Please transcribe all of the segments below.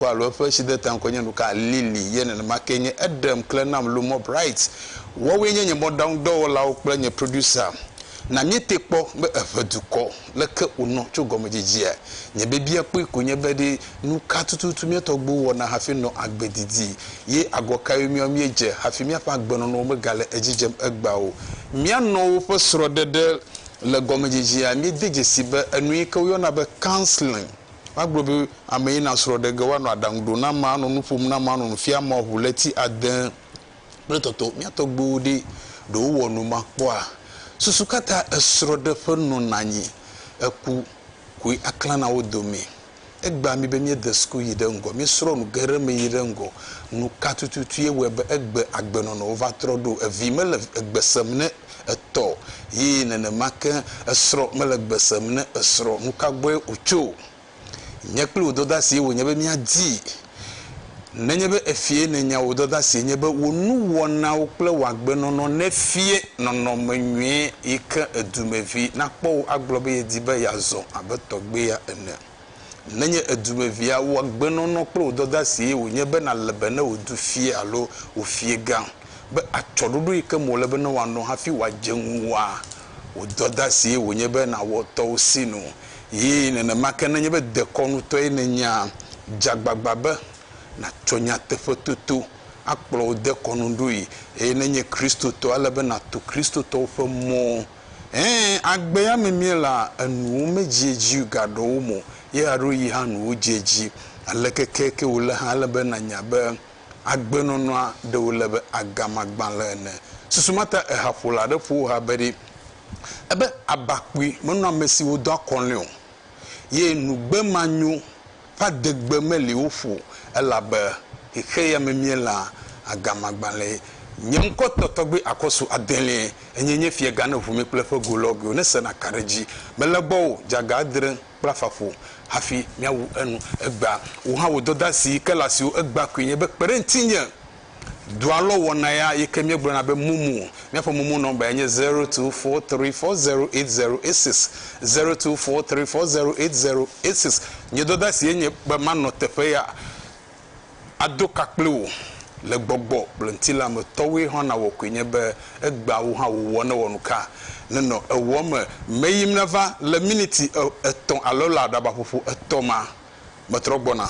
Ŋutsu alo eƒe sideta ŋkɔe nye nuka? Lily ye nenema kee nye. Eɖem kle nam loo mɔ Bright. Woawoe nye nye mɔɖaŋudɔwɔlawo kple nye producer. Na míetee kpɔ be eʋe dukɔ. Leke wònɔ tso gɔmedzidzea? Nye biabiakpɔe koe nye be ɖe nuka tututu mía tɔgbuiwo wɔna hafi nɔ agbe didi, ye agɔ kae míawo míedze hafi míaƒe agbenɔnɔwo megale edzi dzem egbea o? Mía nɔewo ƒe srɔ̃ɖeɖe le gɔmedzidzea míede dzesii be enu yi ke woyɔna be counseling. Magblɔ be, Ame yi na srɔ̃ ɖe ge woanɔ aɖaŋu ɖo na ame, anɔ nu ƒom na ame, anɔ nu fiam ame ŋu ɣleti ade kple tɔtɔ. Mía tɔgbuiwo ɖe? Ɖe wowɔ nu ma kpɔa? Susu ka ta esrɔ̃ɖeƒe nɔna anyi? Eku koe aklã na wo dome. Egbea mí be míede suku yi ɖe ŋgɔ, míesrɔ̃ nu geɖe me yi ɖe ŋgɔ. Nu ka tututue wɔe be egbe agbenɔnɔwo va trɔ ɖo? Evi mele egbe sem ne etɔ ye nenema ke esrɔ mele gbe sem ne esrɔ nuka gbɔe wotso nye kple wò dɔdasie wònye be míadi nenye be efie nènya wò dɔdasie nye be wò nuwɔnawo kple wò agbenɔnɔ nefie nɔnɔme nyuie yike edumevi nakpɔ wò agblɔ be yedi be yeazɔ abe tɔgbia ene Nenye èdu be via wò agbenɔnɔ kple wò dɔdeasie wònye be nàle be ne wò du fia alo wò fiegã be atsyɔ̃ɖoɖo yi ke me wòle be ne wòanɔ hafi wòadze ŋuwòa, wò dɔdeasie wònye be nàwɔ tɔwò sinu. Eye nenema ke nenye be dekɔnutɔe nènyea, dze agbagba be nàtsɔ nyateƒetoto akplɔ wò dekɔnuɖoe. Eye ne ènye Kristotɔ, ele be nàto Kristotɔwo ƒe mɔ. Ẽ, agbea me míela enuwo medziedzi gaɖɔwo mɔ ye aɖo yi hã nuwo dziedzi. Aleke ke ke wòle hã, ele be nànya be agbenɔnɔa ɖe wòle be agama gbalẽ ene. Susu ma ta ehaƒola aɖe ƒo ha be ɖi ebe aba kpui menɔa amesiwo doa kɔlɔ̃e o. ye nugbe manyo ƒe adegbe meli wo ƒo o, elabe xexeyame mielã agamagbalẽe. Nye ŋkɔ tɔ tɔgbe akɔsu adelie, enye nye fiega ne ʋu mi kple ƒe golɔgɔewo ne sena ka ɖe edzi. Mele gbɔwò, dzaga adre kple afã ƒo hafi miawu enu. Egbea wò hã wò dɔdasi ke le asiwò, egbea koe nye be kpe ɖe ŋutinye. Dua lɔ wɔna ya yike míegblɔna be momo. Míaƒe momo nɔmba yae nye zero two four three four zero eight zero eight six, zero two four three four zero eight zero eight six. Nye dɔdasie nye be manɔ teƒe ya ado ka kpli wò le gbɔgbɔ kple ŋutilã me tɔwoe hã nawɔ koe nye be egbea wò hã wòwɔ ne wɔnuka nenɔ ewɔ me meyim nava le miniti etɔ̃ alo le aɖabaƒoƒo etɔ̃ ma metrɔ gbɔna.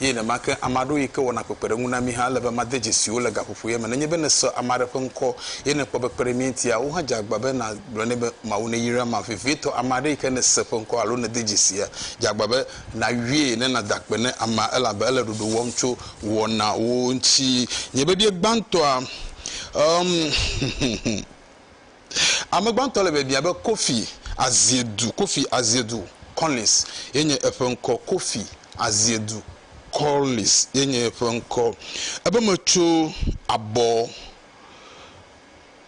Eye nenemake, ame aɖewo yi ke wɔna kpekpeɖeŋu na mí hã, ele be made dzesi wo le gaƒoƒoea me. Nenye be nèse ame aɖe ƒe ŋkɔ ye nèkpɔ be kpe ɖe mía ŋutia, wò hã dze agba be nàgblɔ nɛ be, Mawu neyra ma. Vevitɔ, ame aɖe yi ke nèse ƒe ŋkɔ alo nède dzesia, dze agba be nàyɔe ne nàda akpe ne amea, elabe ele ɖoɖo wɔm tso wò wɔnawo ŋuti. Nye vevie gbãtɔa, ɔm, huhuhu. Ame gbãtɔ le biabiã be Kofi Aziedu, Kofi Aziedu Collins ye nye eƒe ŋkɔ, Kofi Aziedu Collins ye nye eƒe ŋkɔ. Ebe metso abɔ,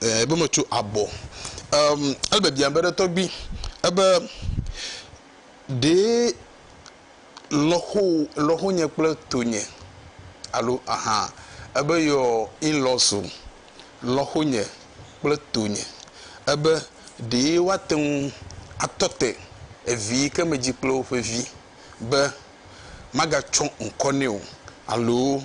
ɛɛ, ebe metso abɔ. Emm, ele biabiã be, Ɖetɔgbi, ebe ɖee. lɔxowo, lɔxonye kple tonye alo aha ebe your in-laws o, lɔxonye kple tonye ebe ɖee woate ŋu atɔ te evi yi ke medzi kple woƒe vi be magatsɔ ŋkɔ nɛ o alo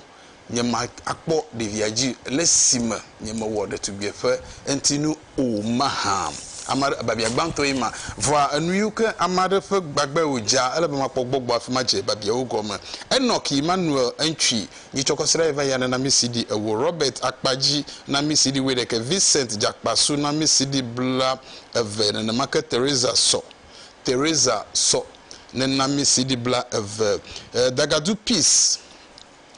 nye ma akpɔ ɖevia dzi le si me nye me wɔ ɖetugbie ƒe eŋti nu o mahã? Ame aɖe, babia gbãtɔ ye ma. Vɔa enu yiwo ke ame aɖe ƒe gbagbae wo dza, ele be ma kpɔ gbɔgbɔ afi ma dze babiawo gɔme. Enoch Emmanuel Eŋtwi, nye tsɔ kɔsiɖa ye va ya ne na mi CD ewo, Robert Akpadzi na mi CD wuiɖeke, Vincent Djakpasu na mi CD bla eve, nenema ke Teresa Sɔ, Teresa Sɔ ne na mi CD bla eve. Dagadu Peace.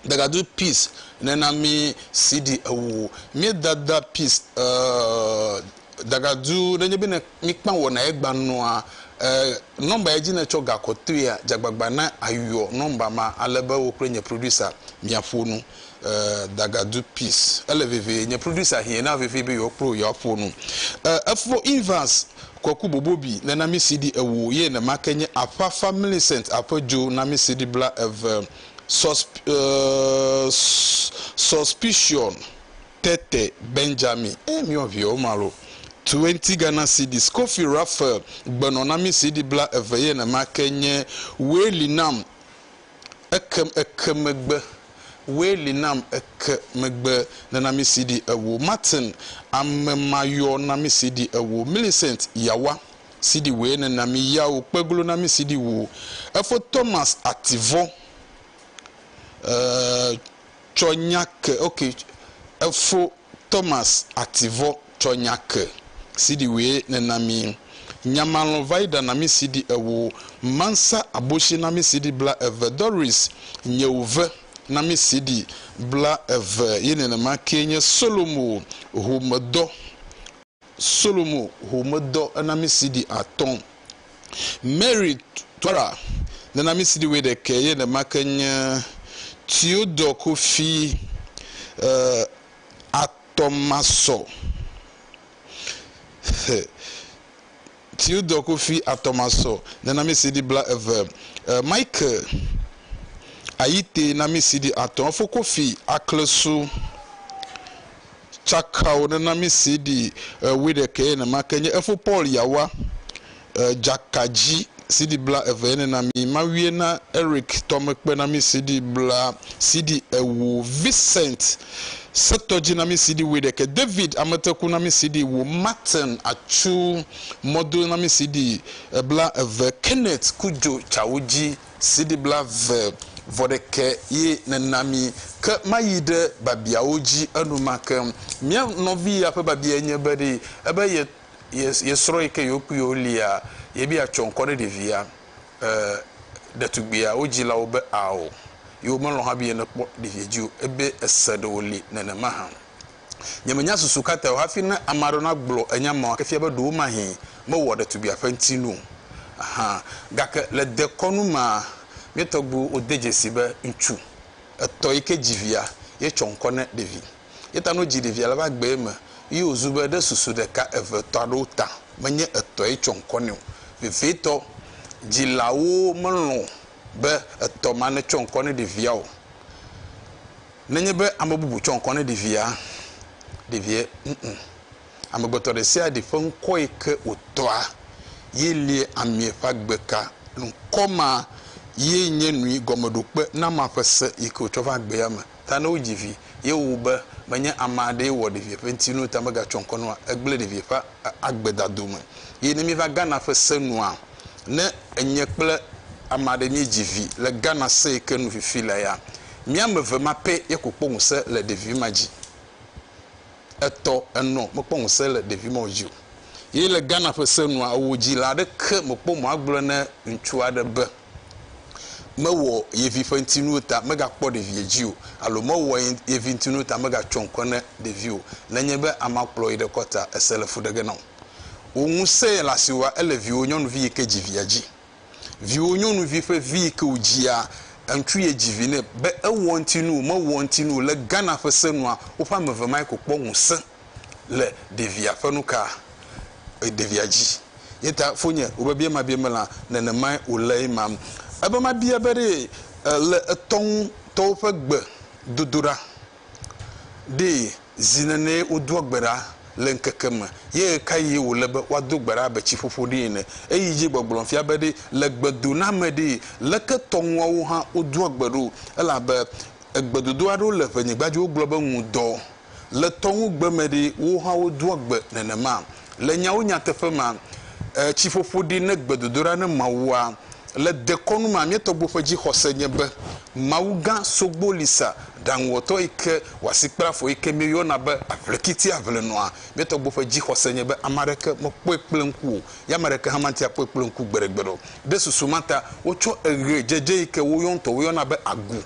Dagadu peace nena mi CD ewo mi dada peace eh Dagadu nenye be ne mi kpa wɔ na ye gba nɔa eh number ye dzi ne tsɔ ga kɔtoea dza gbagba na ayɔ number ma ale be wo kple nye producer mia ƒo nu eh Dagadu peace ele vevie nye producer hɛn na vevie be yewo kple yewo aƒo nu eh efo Evans Kweku Bobobi nena mi CD ewo ye nemake nye Aƒafa Millicent Aƒedzo na mi CD bla eve. suspicion tete Benjamin e miɔ viɛwo ma lo. Twenty Ghana cedis Kofi Raphael gbenɔ na mi CD bla eve ye nema ke nye Woe li nam eke eke megbe Woe li nam eke megbe nena mi CD ewo Martin Amemayɔ na mi CD ewo Millicent Yawa. siɖi woe nena mi yawo kpe glo na mi siɖi wo efo Thomas ativɔ eh, tsɔ nya ke ok efo Thomas ativɔ tsɔ nya ke siɖi woe nena mi nyamalɔ va iɖa na mi siɖi ewo mansa aboshi na mi siɖi bla eve Doris nyewo ve na mi siɖi bla eve ye nenema ke nye Solomo ho medɔ Solomo ho medɔ ena mi sidi atɔ. Mary Twara nena mi sidi woeɖekɛ ye nema ke nye Theodore Kofi e atɔ masɔ he. Theodore Kofi Atɔmasɔ ne namisidi bla eve, e Michael Ayitey namisidi atɔ efo Kofi Aklesu Tsakao ne namisidi e wuiɖekɛ ye nemake nye efo Paul Yawa e Dzakadzi sidi bla eve ye ne nami mawie na Eric Tɔmekpe namisidi bla sidi ewo Vincent Setɔdzinamisiɖi wuiɖekɛ, David ametekunamisiɖi wu, Martin atsu mɔdonamisiɖi bla eve, Kenneth ku dzo tsawo dzi siɖi bla eve vɔ ɖekɛ ye nena mi. Ke mayi ɖe babiawo dzi enumake. Mía nɔvi ya ƒe babiae nye be, Ɖe ebe ye, ye, ye srɔ̃ yi ke yewo kpuiwo lia, yebia tsɔ ŋkɔ ɖe ɖevia? E, ɖetugbia, wodzila wo be ao, ye womelɔ̃ hã be yenekpɔ ɖevia dzi o, ebe ese ɖe wòli nenema hã. Nyemenya susu ka tae o, hafi ne ame aɖewo nagblɔ enya mawo efia be ɖewomahee mewɔa ɖetugbia ƒe ŋutinu o. Aha, gake le dekɔnu mea, mía tɔgbuiwo wode dzesii be ŋutsu etɔ̃ yi ke dzi via, ye tsɔ ŋkɔ ne ɖevi. Ye ta no dzi ɖevia le va gbee me yi o zu be ɖe susu ɖeka eve etɔ aɖewo ta me nye etɔ ye tsɔ ŋkɔ nɛ o. Vevitɔ, dzi la wo me lɔ̃ be etɔ ma ne tsɔ ŋkɔ ne ɖevia o. Ne nye be ame bubu tsɔ ŋkɔ ne ɖevia, ɖevia ŋu. Amegbetɔ ɖe sia ɖe ƒe ŋkɔ yi ke wo tɔa ye lie amea ƒe agbe ka. Ŋkɔ ma ye nye nui gɔmeɖokpe nama ƒe se yi ke wo tsɔ va gbea me. ta ne wodzi vi ye wowu be menye ame aɖee wɔ ɖevia ƒe ŋutinu ta megatsɔ ŋkɔ nua egblẽ ɖevia ƒe agbedado me ye ne míeva Ghana ƒe se nua ne enye kple ame aɖe míedzi vi le Ghana se yike nu fifi le ya mía ame eve ma pɛ ye ko kpɔ ŋuse le ɖevi ma dzi etɔ enɔ mekpɔ ŋuse le ɖevi mawo dzi o ye le Ghana ƒe se nua ewo dzi la aɖeke mekpɔ mɔ agblɔ ne ŋutsu aɖe be. Mewɔ ye vi ƒe ŋutinuwo ta megakpɔ ɖevia dzi o, alo mewɔ ye vi ŋutinuwo ta megatsyɔ ŋkɔ ne ɖevi o, nenye be amea kplɔ yi ɖe kɔ ta, ese le fu ɖe ge na wò. Wò ŋusẽ le asiwòa ele viwò nyɔnuvi yi ke dzi via dzi. Viwò nyɔnuvi ƒe vi yi ke wòdzia, eŋutsu ye dzi vi nɛ. Be ewɔ ŋutinu o, mewɔ ŋutinu o, le Ghana ƒe senua, woƒe ame eve mae ko kpɔ ŋusẽ. le ɖevia ƒe nuka ɖevia dzi yeta fonye wobebie ma bie mela nenemae wòle ema ebe ma bia be ɖee le etɔ ŋu tɔwo ƒe gbe dodoɖa ɖee zi nenee wodoa gbe ɖa le ŋkeke me ye ɣekaɣie wòle be woado gbe ɖa abe tsi ƒoƒo ɖee ene eyi dzi gbɔgblɔm fia be ɖe le gbe dona me ɖee leke tɔ ŋuawo hã wodoa gbe ɖo elabe egbe dodoɖa ɖewo le ʋenyigba dzi wogblɔ be ŋudɔ Le tɔŋugbe me ɖi, wowo hã wodoa gbe nenema. Le nyawo nyateƒe mea, e, tsiƒoƒo ɖi ne gbedodoɖa ne Mawua. Le dekɔnu mea, mía tɔgbuiwo ƒe dzixɔse nye be Mawu gã sogbo li sa, Ɖaŋuwɔtɔ yi ke wɔ asi kple afɔ yi ke míeyɔna be Aʋlekiti Aʋlenɔa. Mía tɔgbuiwo ƒe dzixɔse nye be ame aɖeke mekpɔe kple ŋku o, ye ame aɖeke hã mate ŋu akpɔe kple ŋku gbeɖegbeɖe o. Ɖe susu ma ta, wotsɔ eʋe dzedze yi ke wo ŋutɔwo yɔna be agu,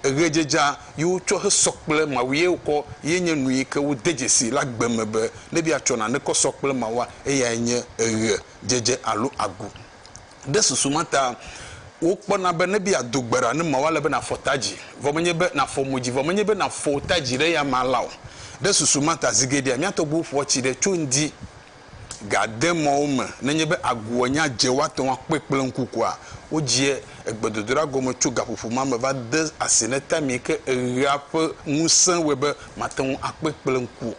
Eɣedzedza yi wo tsɔ he sɔ kple Mawu ye wo kɔ ye nye nu yi ke wo de dzesi le agbe me be ne bia tsɔ nane kɔ sɔ kple Mawua, eyae nye eɣe dzedze alo agu. Ɖe susu ma ta wo kpɔna be ne bia do gbe ɖa ne Mawua le be na fɔ tadzi vɔ menye be na fɔ modzi vɔ menye be na fɔ wo tadzi ɖe ya ma la o. Ɖe susu ma ta zigeɖea mia tɔgbuiwo ƒoa tsi ɖe tso ŋdi gade mɔ wo me nenye be agua nya dze woate ŋu akpɔe kple ŋku koa? Wodzia gbedodoɖa gɔme tso gaƒoƒo ma me va de asi ne tamee ke eɣea ƒe ŋusẽ wɔe be mate ŋu akpɔe kple ŋku.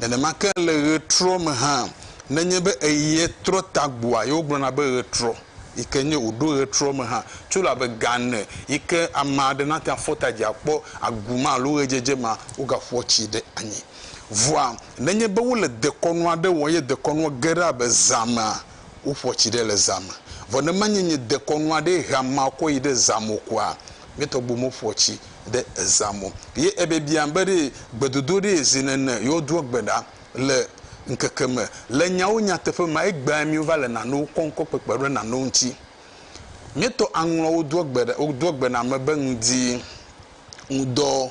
Nenema ke le ɣetrɔ me hã, nenye be eɣea trɔ ta gbɔa, ye wogblɔna be ɣetrɔ, yi ke nye wòɖo ɣetrɔ me hã, tso elabe ga ene yi ke ame aɖe nate ŋu afɔ ta dzi akpɔ agu ma alo ɣedzedze ma, wogaƒoa tsi ɖe anyi. Vɔa nenye be wole dekɔnu aɖe wɔm ye dekɔnua ge ɖe abe zã mea, woƒoa tsi ɖe le zã me. Vɔ ne menye nye dekɔnu aɖee hea mea kɔ yi ɖe zã me o koa, mía tɔgbuiwo meƒoa tsi ɖe zã me o. Ye ebiabiam be ɖe gbedodo ɖee zi nene yewodoa gbe ɖa le ŋkeke me. Le nyawo nyateƒe mea, egbea mí wova le nanewo kpɔm kɔ kpekpe ɖe nanewo ŋuti. Míetɔ aŋlɔa wodoa gbe ɖa wodoa gbe na ame be ŋdi, ŋudɔ.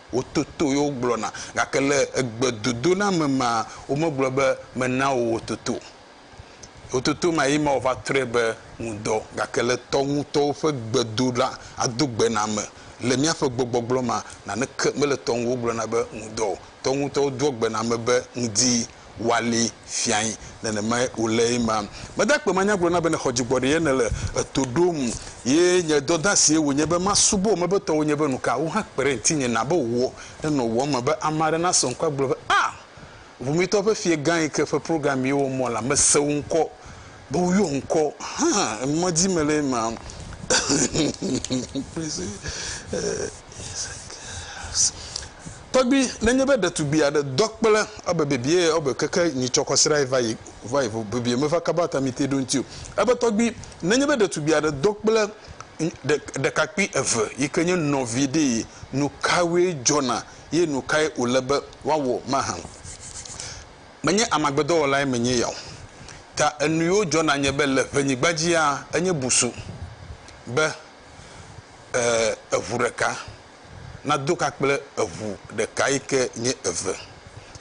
Wototo ye wogblɔna, gake le egbedodoname mea, womegblɔ be, Mena wò wò toto. Wò toto ma ye ma wòva trɔe be ŋudɔ. Gake le tɔ ŋutɔwo ƒe gbedoɖa, ado gbe na ame, le míaƒe gbɔgbɔgblɔ mea, naneke mele tɔ ŋu wogblɔna be ŋudɔ o. Tɔ ŋutɔwo doa gbe na ame be ŋdi. woali fiae. Nenemae wòle ema. Mede akpe manya gblɔ na be nèxɔ dzigbɔɖi ye nèle eto ɖom ye nye dɔdeasie wònye be masubɔ wò mebetɔwo nye be nuka wò hã kpe ɖe ŋutinye na be wò ne nɔ wò eme be ame aɖe nasɔ ŋku agblɔ be, Ah! Ʋumitɔ ƒe fiegã yi ke ƒe programme ye womɔ la, mese wò ŋkɔ. Be woyɔ ŋkɔ hã ŋɔdzi mele ema Tɔgbi, nenye be ɖetugbi aɖe dɔ kple ebe bebie ebe keke nyitsɔ kɔ srae va yi va yi ƒo bebie meva kaba atamite ɖo ŋti o. Ebe tɔgbi, nenye be ɖetugbi aɖe dɔ kple ɖe ɖekakpui eve yike nye nɔvi ɖee nukawoe dzɔna ye nukae wòle be woawɔ mahã? Menye amagbedɔwɔlae menye ya o, ta enuiwo dzɔ na nye be le ƒenyigba dzia, enye busu be e, eʋu ɖeka nado ka kple eʋu ɖeka yi ke nye eve,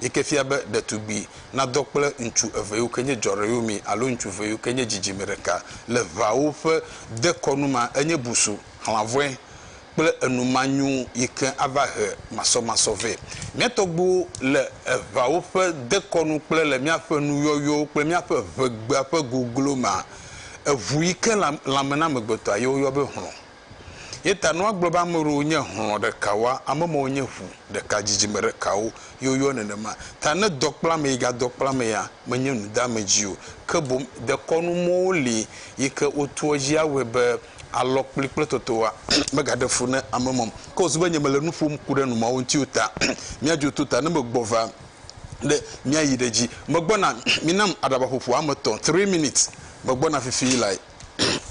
yi ke fia be ɖetugbi nadɔ kple ŋutsu eve yiwo ke nye dzɔreyomi alo ŋutsu eve yiwo ke nye dzidzime ɖeka. Le ʋawo ƒe dekɔnu ma, enye busu xlãvɔe kple enu manyo yi ke ava he masɔmasɔ vɛ. Mía tɔgbuiwo le eŋawo ƒe dekɔnu kple le míaƒe nuyɔyɔwo kple míaƒe ʋegbea ƒe goglo mea, eŋu yi ke le lãme na amegbetɔa ye woyɔ be hlɔ̃. Ye ta ne woagblɔ be ame aɖewo nye hlɔ̃ ɖekawoa, ame mawo nye ʋu ɖeka, dzidzime ɖekawo ye woyɔ nenema. Ta ne dɔ kpla ame yi gadɔ kpla amea, menye nudeamedzi o, ke boŋ dekɔnu mɔwo li yi ke wotoa edzi awɔe be Alɔkpli kple totowa megaɖe fu na ame mɔm, ke wòzu be nye mele nu ƒom ku ɖe numɔ̃awo ŋuti o ta. Míadzo to ta ne megbɔ va ne míayi ɖe edzi. Megbɔna, minam aɖabaƒoƒo ame etɔ̃, three minutes, megbɔna fifi lae.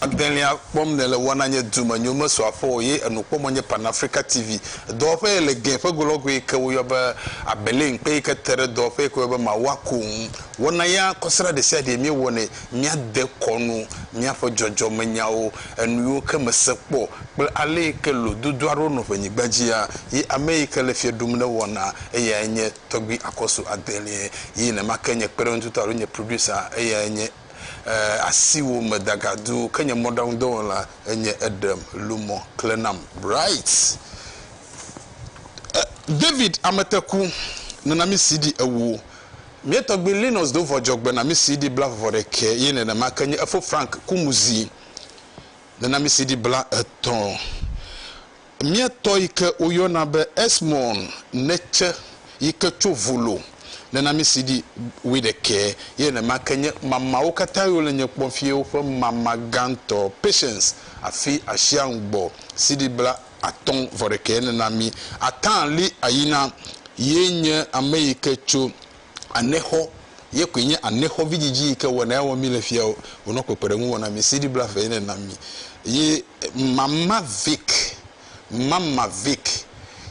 Adelia kpɔm nèle wɔna nye dume nyo mesu aƒe o ye enu kpɔm nye Pan Africa TV dɔwɔƒe ye le Glen ƒe golɔgoe yi ke woyɔ be Abelin kpe yi ke te ɖe dɔwɔƒe yi ke woyɔ be Mawua ko ŋu wɔna ya kɔsiɖa ɖesiaɖee míewɔnɛ míade kɔ nu míaƒe dzɔdzɔmenyawo, enu yiwo ke mese kpɔ kple ale yi ke lododo aɖewo nɔ ƒe nyigba dzia, yi ame yi ke le fiẽ ɖum ne wɔna, eyae nye Tɔgbui Akɔsu Adelie, yi nemake nye kpeɖeŋutɔa alo nye producer eyae nye eh, asiwò me dagadu ke nye mɔɖaŋudɔwɔla enye eɖem lu mɔ kle nam right eh, David Ameteku nana mi CD ewo. Mía tɔgbui Linus do vɔ dzɔgbenamisiɖi blavɔvɔ ɖekɛ ye nenema ke nye efo Frank Kumuzi nenamisiɖi bla etɔ̃. Mía tɔ yi ke woyɔna be Esmon Netshe yi ke tso Volo nenamisiɖi wui ɖekɛ ye nenema ke nye mamawo katã yiwo le nye kpɔm fie woƒe mama gãtɔ Patience Afi Ashiangbɔ siɖi bla atɔ̃ vɔ ɖekɛ nena mí. Atã li ayina ye nye ame yi ke tso anexɔ, ye koe nye anexɔ vidzidzi yi ke wɔna ya wɔm mí le fia o. Wonɔ kpekpeɖeŋu wɔm na mí. CD blave ye nena mí. Ye Mama Vic, Mama Vic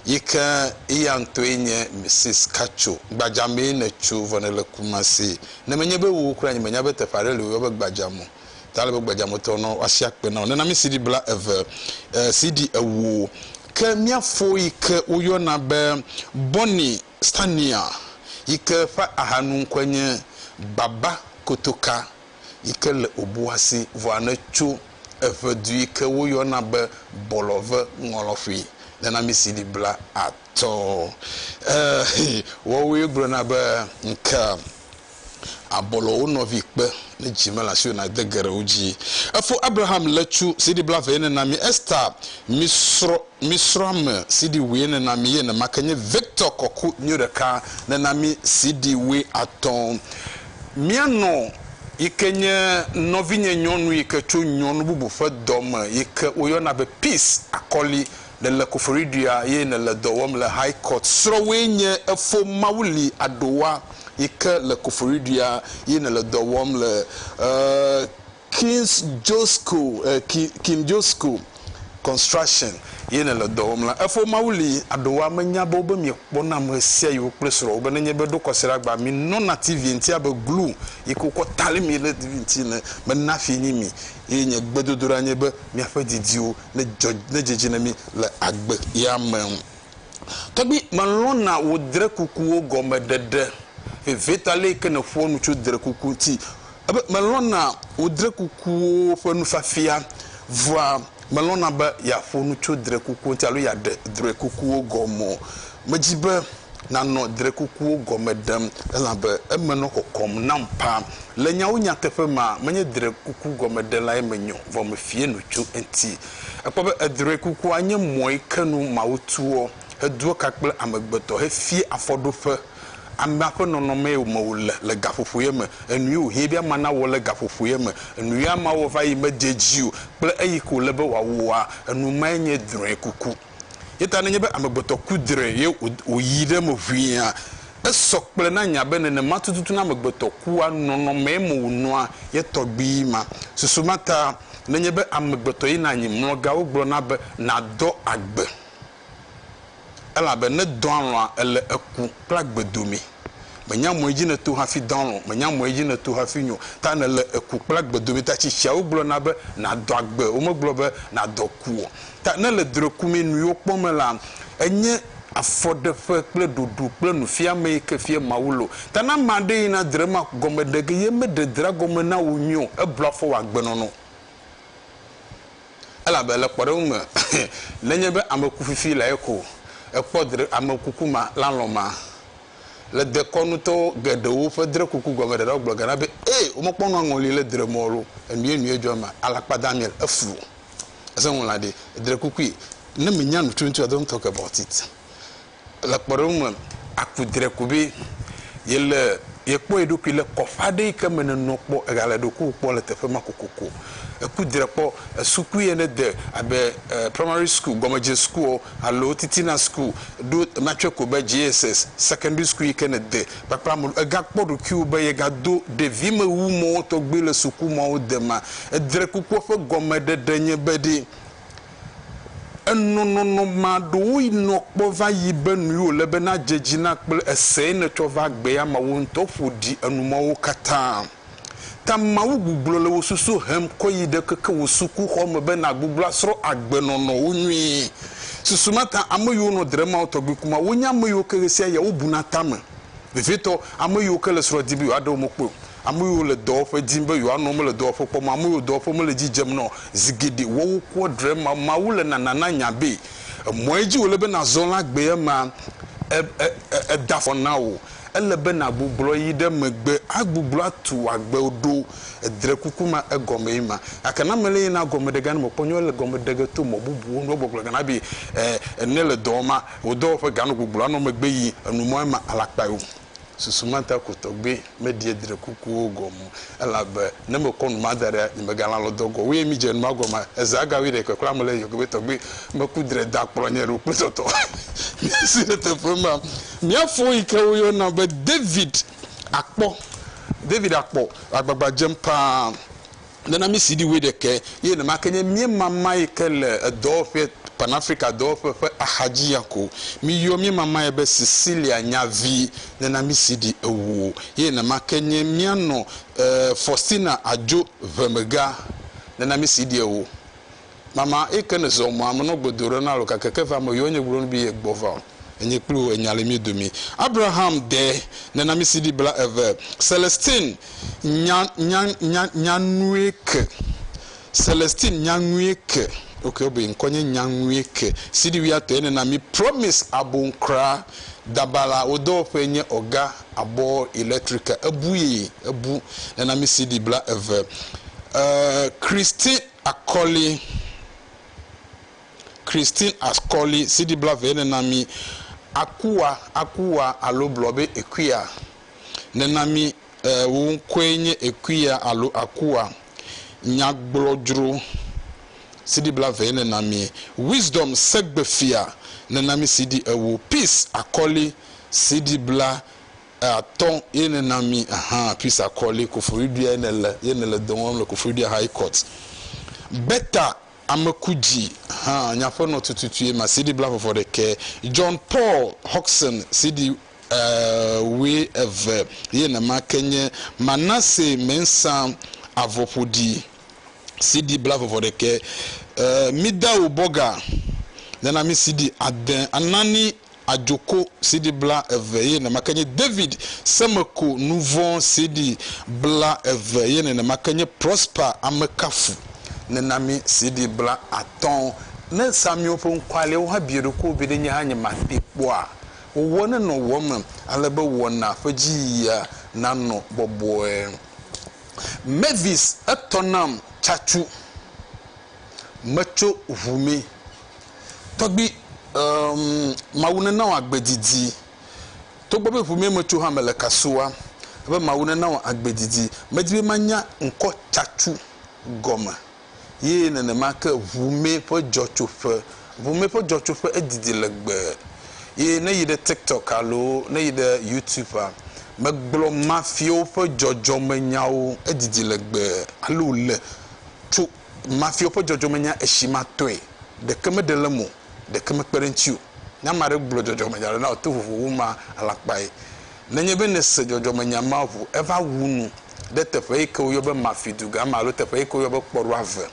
yi ke eya ŋutɔe nye Mrs. Katso. Gbadzamee nètso vɔ nèle Kumasi. Ne menye be wò kura nye menya be teƒe aɖe li wòyɔ be Gbadzam o. ta le be gbadza me tɔ nɔ wasi akpe na wo. Nena mi CD bla eve, e, CD ewo, ke mia fo yi ke wo yɔ na be Bonnie Stania yi ke ƒe aha nu ŋkɔe nye Baba Kotoka yi ke le Obuasi vɔa ne tso eʋe du yi ke wo yɔ na be Bɔlɔve Ŋɔlɔƒe. Nena mi CD bla atɔ, e, wɔwoe gblɔ na be ŋke. Abɔlɔ wo nɔvi kpe ne dzi mele asiwò na de geɖe wo dzi. Efo Abraham le cu CD bla veye ne na mi Esther mi srɔ mi srɔ ame CD weye ne na mi ye ne ma ke nye Victor kɔku nyo ɖeka ne na mi CD we atɔ mia nɔ yi ke nye nɔvi nye nyɔnu yi ke co nyɔnu bubu ƒe dɔ me yi ke wo yɔ na be peace akɔli nèle koforiɖuia ye nèle dɔ wɔm le High Court srɔ̃wòe nye efo Mawu li aɖowa yi ke le koforiɖuia ye nèle dɔ wɔm le eh, Kings Josco eh, Ki, King Josco Construction ye nèle dɔ wɔm la, efo Mawu li aɖowa menya be wobe miekpɔ nam ɣesiaɣi wò kple srɔ̃wò be nenye be ɖo kɔsiɖagba minɔna TV ŋuti abe glu yi ke wokɔ tali mi ɖe TV ŋuti ene mena fi nyi mi eye nye gbedodoɖa nye be miaƒe didiwo ne dzɔ ne dzedzi na mí le agbe ya me. Tɔgbi, melɔ̃na wò drekukuwo gɔme ɖeɖe. Vevietɔ ale yi ke nèƒoa nu tso drekuku ŋuti ebe melɔ̃na wò drekukuwo ƒe nufiafia. Vɔa, melɔ̃na be yeaƒo nu tso drekuku ŋuti alo yeaɖe drekukuwo gɔme o. Medi be nànɔ drekukuwo gɔme ɖem, elabe eme nɔ kɔkɔm nam ƒaa. Le nyawo nyateƒe mea, menye drekuku gɔmeɖelae menyo, vɔ mefie nu tso eŋti. Èkpɔ be edrekukua nye mɔe ke nu Mawu tuɔ, hedoa ka kple amegbetɔ, hefie afɔɖoƒe amea ƒe nɔnɔmee me wòle le gaƒoƒoea me. Enui wòhiẽ be amea nawɔ le gaƒoƒoea me. Enui amea wɔ va yi medze edzi o, kple eyi ke wòle be wòawɔa, enu mae nye drɔ̃ekuku. Eya ta nenye be amegbetɔ ku dre ye wòyi ɖe eme ʋĩia, esɔ kple na nya be nenema tututu na amegbetɔ kua, nɔnɔmee me wònɔa ye tɔgbui ma. Susu ma ta nenye be amegbetɔ yina anyi mlɔga wogblɔna be nadɔ agbe, elabe ne dɔa lɔ̃a ele eku kple agbe domee. Mènya mɔe dzi nèto hafi dɔ alɔ̃, mènya mɔe dzi nèto hafi nyo ta nèle eku kple agbe dome ta tsi tsiawo gblɔna be nàdɔ agbe, womegblɔ be nàdɔ ku o. Ta nèle drɔ̃ekumee nuyiwo kpɔm me la, enye afɔɖeƒe kple ɖoɖo kple nufiamee ke fia Mawu lo. Ta ne ame aɖe yina dre ma gɔme ɖe ge ye meɖe drea gɔme na wò nyuie o, eblua fɔ wò agbenɔnɔ. Elabe le kpɔɖeŋu me, nenye be ame ku fifi lae ko ekpɔ dre ame kuku ma la lɔ̃ ma. Le dekɔnutɔ geɖewo ƒe dre kuku gɔmeɖeɖeawo gblɔ gana be, Ee, womekpɔ nu aŋɔli le dre mɔ lo enyienyiee dzɔ mea, alakpa Daniel, efu o. Esẽ ŋu la ɖe, edre kukui, ne menya nu tututu a, do ŋutɔ ke bɔtit. Le kpɔɖeŋu me, aku dre ko be yele yekpɔ ye ɖokui le kɔƒe aɖe yi ke me nènɔ kpɔ ègale ɖokuiwò kpɔ le teƒe ma kokoko. Eku dre kpɔ sukui ene de abe primary school, gɔmedze sukuɔ alo titina school ɖo ema tsɔe ko be JSS, secondary school yi ke nède kpakple ame ɖe. Ègakpɔ ɖokuiwò be yegado ɖevimewu mɔwo tɔgbi le sukumɔwo dema. Edrekukpɔ ƒe gɔmeɖeɖe nye be ɖe Enɔ nɔnɔ ma ɖewo yi nɔ kpɔ va yi be nui wo le be na dze dzi na kple ese yi ne tsɔ va gbe ya ma wo ŋutɔ ƒo ɖi enu ma wo katã ta Mawu gugblɔ le wo susu hem kɔ yi ɖe keke wo suku xɔ me be na gugblɔ asrɔ agbe nɔnɔ wo nyui susu ma ta ame yi wo nɔ dre ma wo tɔgbi kuma wo nye ame yi wo ke ɣesiaɣia wo bu na tame vevietɔ ame yi wo ke le srɔ di be yewoa ɖe wo me kpɔe o. Ame yiwo le dɔwɔƒe dim be yewoanɔ mele dɔwɔƒe kpɔm o. Ame yiwo dɔwɔƒe mele dzi dzem na o. Zi geɖe woawo kua dre ma. Mawu le nana na nya be emɔ yi dzi wòle be nàzɔ la gbee ema eda afɔ na wò. Ele be nàgbuglɔ yi ɖe megbe agbuglɔ atu wò agbewo ɖo. Edre kuku ma egɔmee ma. Gake na mele ye na gɔme ɖe gane mekpɔ nyuie le gɔme ɖe ge to mɔ bubuwo nu. Egbɔgblɔ gana be ne le dɔwɔma wò dɔwɔƒe ga nɔ gbugblɔ anɔ megbe yi enu mɔ ema alakpae o. susu ma ta ko tɔgbe meɖie dre kukuwo gɔme o, elabe ne mekɔ nu ma da ɖea, nye megalã lɔ dɔ gɔ̃ o. Eye midze nu ma gɔme, Ezea ga wuiɖekɛ kura mele eye yɔgbe be tɔgbe meku dre da kplɔ nye ɖo kple tɔtɔ miasi ɖe teƒe ma. Mía fo yi ke woyɔna be David akpɔ. David akpɔ agbagba dzem paa Nana mí CD wuiɖekɛ ye nɛma ke nye míemama yi ke le edɔwɔƒeɛ, Pan-Afrika dɔwɔƒe ƒe axadzi ya ko. Mí yɔ míemama ye be Cecilia nya vi. Nana mí CD ewo ye nɛma ke nye míanɔ e Faustina adzo ʋemega. Nana mí CD ewo. Mama eyike ne zɔ mɔa me nɔ gbedo ɖe na lo gake ke va me yɔ nye gblɔ nu bi ye gbɔ va o. Enye kpli wò enya le mí domi. Abraham de nenamisi ɖi bla eve. Celestine nya nya nya nya nue ke. Celestine nya nue ke. Ok wo be ŋkɔ nye nya nue ke. Sidi wia tɔ ye nena mi promise abon kra. Dabala wo dɔwɔƒe nye ɔga abɔ electrical ebu ye ebu nenamisi ɖi bla eve. Eh Christine. Akɔli, Christine Akɔli, CD blaevee nena mí Akua, Akua alo gblɔ be Ekuya nena mí e wò ŋkɔe nye Ekuya alo Akua, Nyagblɔdzro, CD blaevee nena mí Wisdom Segbefia nena mí CD ewo Peace Akɔli, CD bla Eya tɔ ye ne na mi ahan pis akɔ li kofoyi ɖuia ye ne le ye ne le dɔwɔm le kofoyi ɖuia high court. Beta ameku dzi han nya ƒe nɔ tututu ye ma CD bla vɔvɔ ɖekɛ. John Paul Hodgson CD e we eve ye ne ma ke nye Manasse Mensah avɔ ƒoɖi CD bla vɔvɔ ɖekɛ. E mi da wo bɔga ne na mi CD ade anani Adzoko CD blaeve eye nenema ke nye David Semeko Nuvɔ̃ CD blaeve eye nenema ke nye Prosper Amekafu Nenami CD blaatɔ̃. Ne Samiwo ƒe ŋkualeawo hã bia ɖokuiwo be ɖe nye hã nyemakpee kpɔa? Wòwɔ nenɔ wò eme ale be wɔnaa ƒe dziyia nanɔ bɔbɔe. Mavis Etɔ nam tsatsu. Metso ʋu mi. Tɔgbi, Emm, Mawu nena wò agbe didi. Togbɔ be ƒomea me tso hã mele kasua be Mawu nena wò agbe didi. Medi be manya ŋkɔ Tsatsu gɔme ye nenema ke ŋumɛ ƒe dzɔtsoƒe. Ŋumɛ ƒe dzɔtsoƒe edidi legbee ye ne yi ɖe TikTok alo ne yi ɖe Youtubea, megblɔ mafiawo ƒe dzɔdzɔmenyawo edidi legbee. Alo le tso. Mafiɔ ƒe dzɔdzɔmenya esi ma tɔe, ɖeke me ɖe le mo, ɖeke me kpe ɖe ŋuti o. Ne ame aɖe gblɔ dzɔdzɔmenya aɖe na wò to vovo wu ma, alakpae. Nenye be nèse dzɔdzɔmenya ma ŋu, eva wu nu ɖe teƒe yi ke woyɔ be Mafi dugã me alo teƒe yi ke woyɔ be kpɔɖoa ve.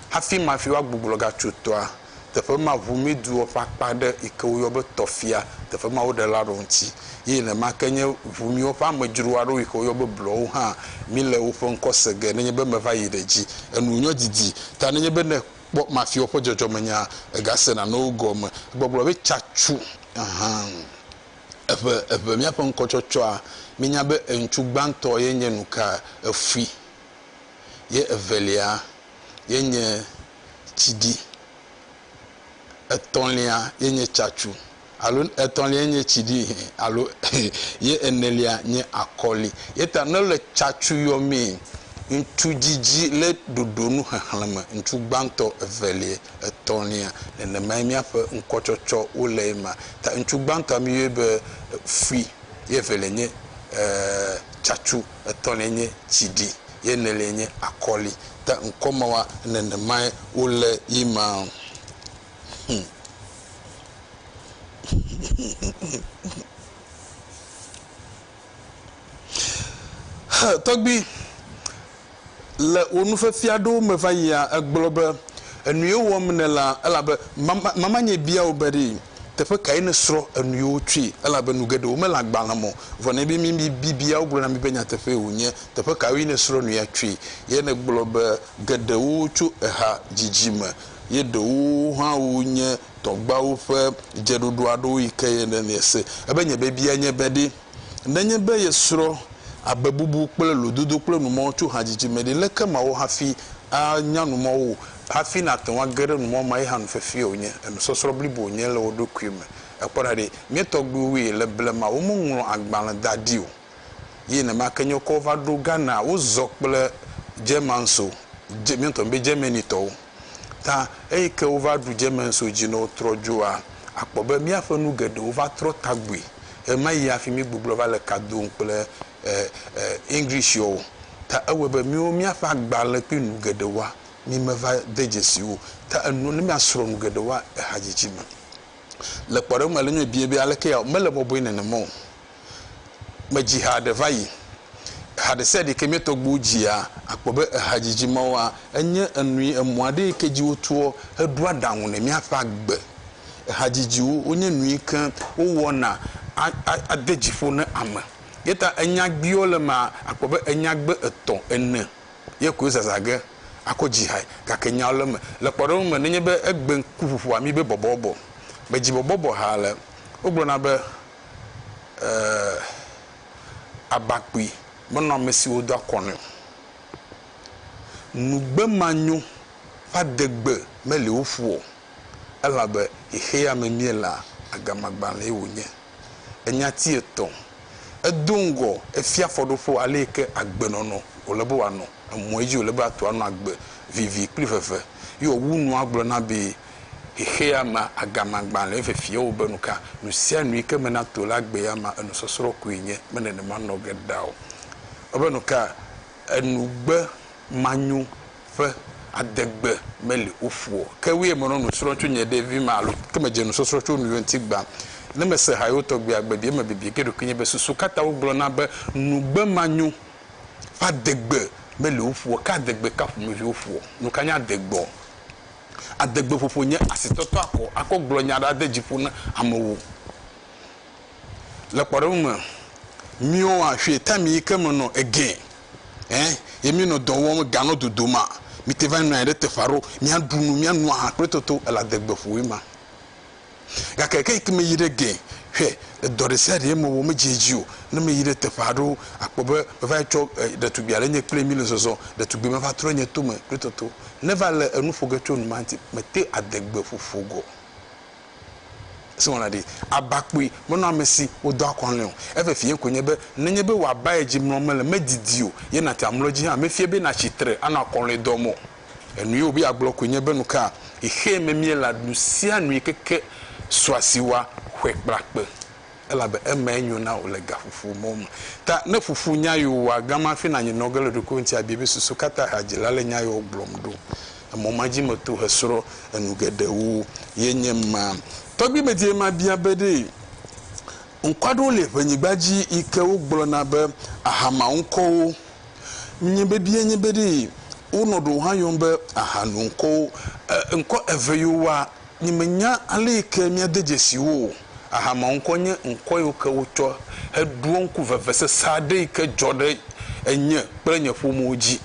Hafi Mafi woagbugbɔ gatso toa, teƒe ma ʋu Medowo ƒe akpa aɖe yi ke woyɔ be Tɔfia, teƒe ma woɖe la ɖo ŋuti. Ye nenema ke nye ʋu miwo ƒe amedzro aɖewo yi ke woyɔ be Blɔwo hã, míle woƒe ŋkɔ se ge nenye be meva yi ɖe dzi. Enu nyɔ didi ta nenye be ne èkpɔ Mafiawo ƒe dzɔdzɔmenyaa, ègasena nɔ wo gɔme. Egbɔgblɔ be, Tsatsu hã, eʋe, eʋe míaƒe ŋkɔtsɔtsɔa, míenya be eŋutsu gbãtɔ ye nye nuka? Efui. Ye evelia ye nye. tsi dzi. Etɔ̃lia ye nye tsatsu alo etɔ̃lia ye nye tsi dzi alo ye enelia nye akɔli. Ye ta ne le tsatsu yɔmee, ŋutsu dzidzi le ɖoɖo nu xexlẽme, ŋutsu gbãtɔ, evelia, etɔ̃lia. Nenemae míaƒe ŋkɔtsɔtsɔ wo le ema. Ta ŋutsu gbãtɔa míyɔe be fui ye evelia nye tsatsu. etɔ̃liae nye tsiɖi, ye eneliae nye akɔli. Ke ŋkɔ mawoa, nenemae wole ye ma. Tɔgbui, le wò nufiafia aɖewo me vayia, ègblɔ be, Enuye wɔm nèlea, elabe mamanye bia wò be ɖee. Teƒe kae nèsrɔ̃ enu yi wotsɔe? Elabe nu geɖewo mele agbalẽ me o. Vɔ ne míebia mí bibiawo, wogblɔ na mí be nyateƒee wònye. Teƒe kawoe nèsrɔ̃ nu ya tsoe? Ye nègblɔ be, Geɖewo tso eha didi me, ye ɖewo hã wonye tɔgbuawo ƒe dzeɖoɖo aɖewo yi ke ye nèse. Ebe nye biabia nye be ɖe? Nenye be yesrɔ̃ abebubu kple lododo kple numɔ̃wo tso hadzidzi me ɖe, leke mawɔ hafi anya numɔ̃wo o? Hafi nàte ŋu age ɖe numɔ̃ mae hã nu fefee wònye, enusɔsrɔ̃ blibo wònye le wò ɖokui me. Èkpɔ ɖa ɖe, mía tɔgbuiwoe le blema, womeŋlɔ agbalẽ da ɖi o. Ye nenema ke nye wokɔ wo va ɖo Ghana, wozɔ kple Germans o, mía ŋutɔ míebe Germany-tɔwo. ta. Eyi ke wova ɖu Jemenso dzi ne wotrɔ dzoa, akpɔ be míaƒe nu geɖewo va trɔ tagbui. Ɣemaɣi hafi míegbublɔ va le ka dom kple English-ɔ o, ta ewɔe be míwo míaƒe agbalẽ kple nu geɖewoa, mímeva de dzesi wo o, ta enɔ ne míasrɔ̃ nu geɖewoa ehadzidzi me. Le kpɔɖeŋu me, le nye me biae be, Alekea? Mele bɔbɔe nenema o. me dzi ha ɖe va yi. Eha ɖe sia ɖe yike mía tɔgbuiwo dzia, akpɔ be ehadzidzi mawoa, enye enui, emɔ aɖe yike dzi wotoɔ heɖo aɖaŋu ne míaƒe agbe. Ehadzidziwo wonye nu yike wowɔna ade dzi ƒo ne ame. Ye ta enyagbiwo le mea, akpɔ be enyagbe etɔ̃, ene ye koe zazã ge akɔ dzi hae. Gake nyawo le me. Le kpɔɖeŋu me, nenye be egbe ŋkuƒoƒoa mí be bɔbɔbɔ, me dzi bɔbɔbɔ ha le, wogblɔna be, abakpui menɔ ame siwo do akɔ nɛ o. Nugbe manyo ƒe adegbe meli wo ƒu o, elabe xexea me míelea, agamagbalẽe wònye. Enya ti etɔ̃. Edo ŋgɔ, efia afɔɖoƒo ale yi ke agbenɔnɔ wòle be wòanɔ, emɔ̃e dzi wòle be atu anɔ agbe vivi kple veve, ye wòwu nua gblɔna be, xexea me agamagbã le efefia wo be nuka nusianu yike me na to la gbea ma enusɔsrɔ koe nye me nenema nɔge ɖa o wo be nuka enugbe manyo ƒe adegbe meli oƒu o ke woe menɔ nusrɔ tso nye ɖevi me alo ke medze nusɔsrɔ tso nuyo ŋti gbã ne mese ha yewo tɔgbia gbe bia me bibia ke ɖokui nye be susu kata wo gblɔ na be nugbe manyo ƒe adegbe meli oƒu o ke adegbe ka ƒomevi oƒu o nuka nye adegbe o. Adegbeƒoƒo nye asitɔtɔ akɔ akɔ gblɔ nya aɖe ade dzi ƒo na amewo. Le kpɔɖeŋu me, míwo a ƒi ta mi yi ke me nɔ egɛ ɛ ye mi nɔ dɔ wɔm ga nɔ dodo ma, mi te va nɔ anyi ɖe teƒe aɖewo, mia ɖu nu, mia nu aha kple toto ela degbeƒoe ma. Gake eke yi ke meyi ɖe gee, hwɛ, dɔ ɖe sia ɖee mewɔ medze edzi o. Ne meyi ɖe teƒe aɖewo, akpɔ be meva yi tsɔ ɖetugbui aɖe nye kpli mi le zɔzɔ, ɖetugbui ma va trɔ nye to me kple toto. Ne va le enu ƒo ge tso nu ma ŋuti, mete ade gbe ƒoƒo gɔ̃. Esi wɔna ɖi aba kpui menɔ ame si wodɔ akɔ nɛ o. Eveviee koe nye be, nenye be wò aba yi dzi mlɔm mele, medidi o, ye nàte amlɔ edzi hã, mefia be nàtsi tre anɔ akɔlɔ̃e dɔm o. Enui wòbe yeagblɔ koe nye be, Nuka xexee me míelea nusianui keke sua si wɔa ƒe kple akpe, elabe emae nyo na wò le gaƒoƒo mɔ me. Ta ne ƒoƒu nya yi wòwɔa gama hafi nànyi nɔ ge le ɖokuiwò ŋuti abiae be, Susu ka ta hadzila le nya yewo gblɔm ɖo? Emɔ ma dzi meto hesrɔ̃ enu geɖewo ye nye ma. Tɔgbi medie mabia be ɖe ŋkɔ aɖewo li le ʋenyigba dzi yi ke wogblɔna be Ahama ŋkɔwo. Nye bebie nye be ɖee wonɔ ɖewo hã yɔm be ahanu ŋkɔwo. Ŋkɔ eve yiwo woa, nye menya ale yi ke míade dzesi wo o. Ahamea ŋkɔ nye ŋkɔ yiwo ke wotsɔ heɖoa ŋku vevesese aɖe yi ke dzɔ ɖe enye kple nye ƒomewo dzi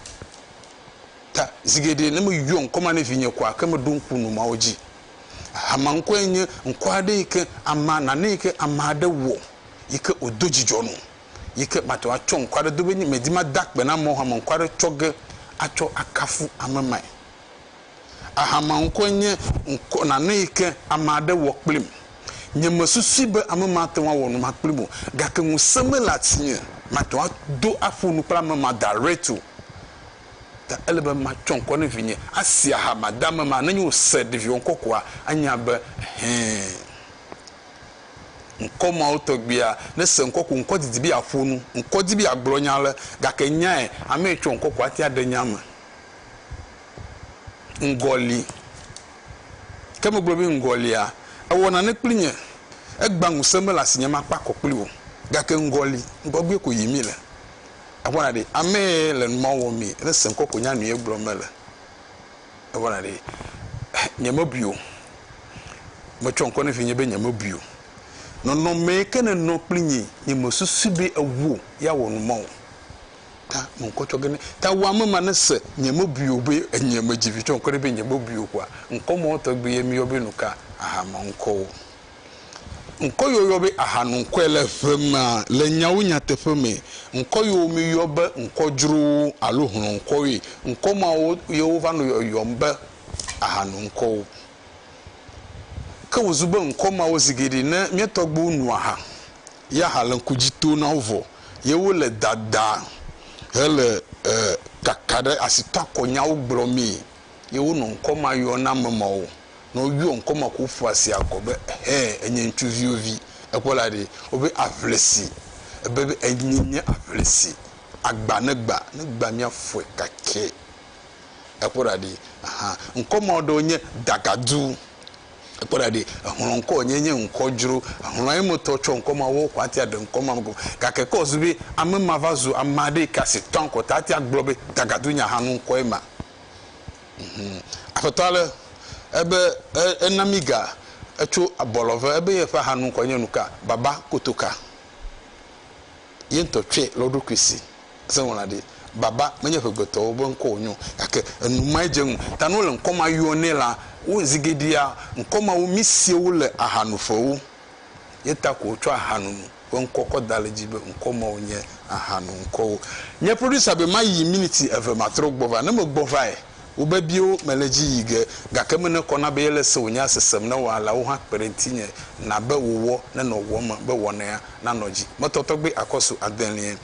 ta. Zi geɖe ne meyɔ ŋkɔ ma ne vinye koa, ke meɖo ŋku numawo dzi. Ahamea ŋkɔ ye nye ŋkɔ aɖe yi ke amea, nane yi ke ame aɖe wɔ yi ke wòdo dzidzɔ nɔ. yi ke mate ŋu atsɔ ŋkɔ aɖe do be medi made akpe na amewo hame ŋkɔ aɖe tsɔ ge atsɔ akafu ame mae. Ahama ŋkɔe nye ŋkɔ nane yi ke ame aɖe wɔ kplim. Nyemesusui be ame ma ate ŋu awɔ nu ma kplim o gake ŋusẽ mele asinye mate ŋu ado aƒo nu kple ame ma direct o ta ele be matsɔ ŋkɔ ne vinye asi aha made ame ma. Ne nyo se ɖeviwo ŋkɔ koa anya be ɛhɛɛ. Ŋkɔ mawo tɔgbuia, ne se ŋkɔ ko ŋkɔ didi be yeaƒo nu. Ŋkɔ di be yeagblɔ nya ale, gake nyae ame yi tsɔ ŋkɔ ko ate aɖe nya me. Ŋgɔ li. Ke megblɔ be ŋgɔ lia, ewɔ nane kpli nye, egbã ŋusẽ mele asinye makpe akɔ kpli wò. Gake ŋgɔ li, ŋgɔgbee ko yim mile. Akpɔna ɖe, ame yi le numao wɔmee, ne se ŋkɔ ko nya nu ye gblɔ mele. evana ɖi. Nyemebui o. Metsɔ ŋkɔ ne vinye be nyemebui o. Nɔnɔme yi ke nènɔ kpli nyi, nyemesusui be ewuo ye awɔ nu ma o. Ta me ŋkɔ tsɔ ge ne, ta wu ame ma ne se nyemebui o be enye medzi vi tsɔ ŋkɔ ne be nyemebui o kpoa, ŋkɔ mawɔ tɔgbi ye miyɔ be nuka? Aha ma ŋkɔ o. Ŋkɔ yi woyɔ be ahanoŋkɔe le ʋe mea, le nyawo nyateƒe me, ŋkɔ yiwo míyɔ be ŋkɔ dzrowo alo hlɔ̃ŋkɔwoe. Ŋkɔ mawo ye wova nɔ yɔyɔm be ahanoŋkɔwo. Ke wòzu be ŋkɔ mawo zi geɖe ne mía tɔgbuiwo no aha ya hã le ŋku dzi tom na wo vɔ ye wole dada hele kaka ɖe asitɔakɔnyawo gblɔmee. ye wonɔ ŋkɔmayɔname ma o. Ne woyɔ ŋkɔmaƒoƒua sia gɔ̃ be Hɛ, Ènye Ŋutsuviwo Vi! ekpɔ la ɖe, wobe aʋlisi. Ebe be Enye nye aʋlisi. Agba ne gba, ne gba míafɔe kakɛ. Ekpɔ ɖa ɖe. Ahan. Ŋkɔmeawo ɖewo nye Dagadu. Kpɔ ɖa ɖi, exlɔ̃ ŋkɔ nye nye ŋkɔ dzro. Exlɔ̃ emetɔ tsɔ ŋkɔ ma wo xɔ atia ɖe ŋkɔ ma go. Gake kɔ zu be ame ma va zu ame aɖe yike asi tɔa ŋkɔ ta atia gblɔ be tagadu nya hã nu ŋkɔ ema. Mhum. Aƒetɔ ale ebe e, ena mi ga etso abɔlɔve ebe ye ƒe aha nu ŋkɔ nye nuka? Baba kotoka. ye ŋutɔ tsɔe le wo ɖokui si. Se ŋlɔla ɖi. Baba menye ŋegbetɔwo be ŋkɔ wònyo o, gake enu mae dze ŋu. Ta ne wole ŋkɔ ma yɔ nɛ la, wo zi geɖea, ŋkɔ mawo mísea wo le ahanuƒewo. Ye ta ko wotsɔ ahanunu ƒe ŋkɔ kɔ da ɖe edzi be ŋkɔ mawo nye ahanuŋkɔwo. Nye producer be mayi miniti eve matrɔ gbɔ va. Ne megbɔ vae. Wobe biwo mele edzi yi ge, gake menekɔ na be yele se wònye asesem ne wɔalawo hã kpe ɖe ŋutinye na be wòwɔ nenɔ ŋu eme be wɔnɛa nanɔ dzi. Metɔ tɔgbe akɔsu adelie.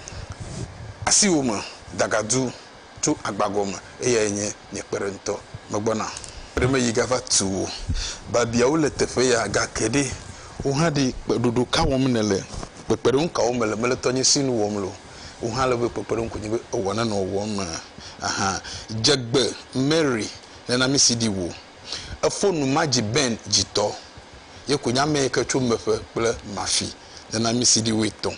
Asiwò me dagadu tso agbagɔ me. Eyae nye nye kpeɖeŋutɔ. Megbɔna. Ɖe meyi gava tu wò babiawo le teƒe ya, gake ɖe wohaɖi kpeɖoɖo ka wɔm nèle? Kpekpeɖeŋu kawo mele mele tɔnyesi nu wɔm le o? wò hã ele be kpekpe ɖom konye be ewɔ na nɔ wɔm me aha. Dze gbe Mary ne na misi ɖi wò. Efo nu ma dzi Ben dzi tɔ. Ye konye ame yi ke tso meƒe kple mafi ne na mi siɖi wòe tɔ.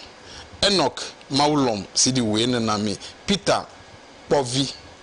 Enoch Mawu lɔm siɖi wòe ne na mi. Peter kpɔ vi.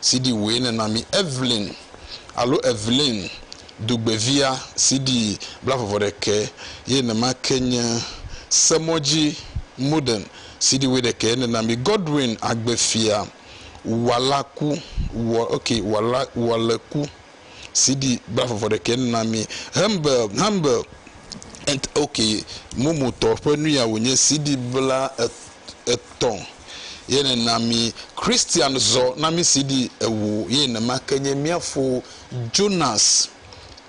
CD wòe nèna mí. Evelyn, alo Evelyn, dugbevia, CD blaveveɖekɛ ye nema ke nye. Semɔdzi, Modern, CD wuiɖekɛ ye nèna mí. Godwin, agbefia, Walaku, Wa, ok, Wala, Waleku. sidi bla vɔvɔ ɖekɛ nuna mi hembe hembe et ok momo tɔ ƒe nuya wònye sidi bla et etɔ̃ ye nena mi christian zɔ na mi sidi ewo ye nema ke nye mia fo jonas